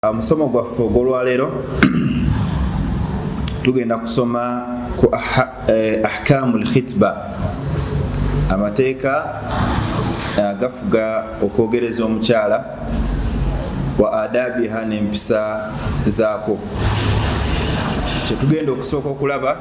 musomo gwaffe ogwolwaleero tugenda kusoma ku eh, ahkamu lkhitba amateeka eh, agafuga okwogereza omukyala wa adabiha nempisa zaako kyetugenda okusooka okulaba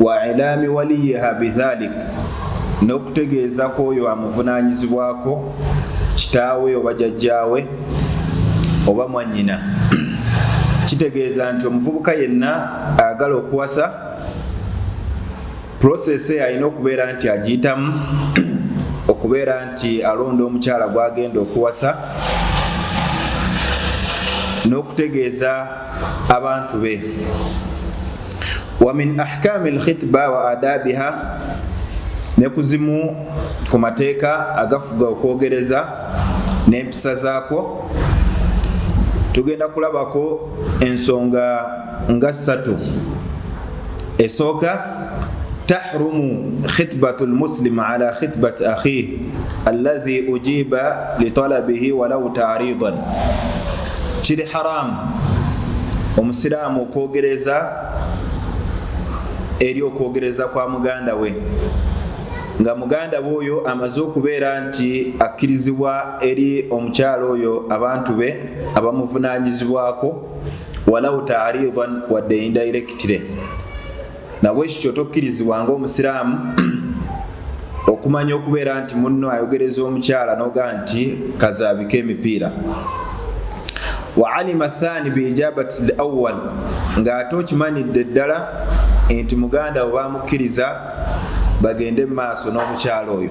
wa ilaami waliyiha bidhalik n'okutegeeza ku oyo amuvunaanyizibwako kitaawe oba jajjaawe oba mwannyina kitegeeza nti omuvubuka yenna ayagala okuwasa process alina okubeera nti agiyitamu okubeera nti alonda omukyala gwagenda okuwasa n'okutegeeza abantu be wamin ahkami lkhitba wa adabiha ne ku zimu ku mateeka agafuga okwogereza n'empisa zaako tugenda kulabako ensonga nga ssatu esooka tahrumu khitbatu lmuslim ala khitbati akhih allahi ujiba litalabihi walau taridan kiri haramu omusiraamu okwogereza eri okwogereza kwa muganda we nga muganda we oyo amaze okubeera nti akkirizibwa eri omukyalo oyo abantu be abamuvunanyizibwako walau taridan wadde indirectly nabwekyo kyotokkirizibwa ngaomusiraamu okumanya okubeera nti munno ayogereza omukyala noga nti kazaabika emipiira waalima thani biijabati l awal ng'ate okimanidde ddala nti muganda we bamukkiriza bagende mu maaso n'omukyala oyo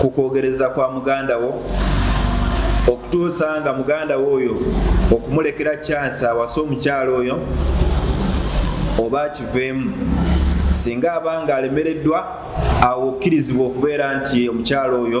ku kwogereza kwa muganda wo okutuusa nga muganda wo oyo okumulekera kyansi awasa omukyalo oyo oba akiveemu singa aba nga alemereddwa awo okkirizibwa okubeera nti omukyalo oyo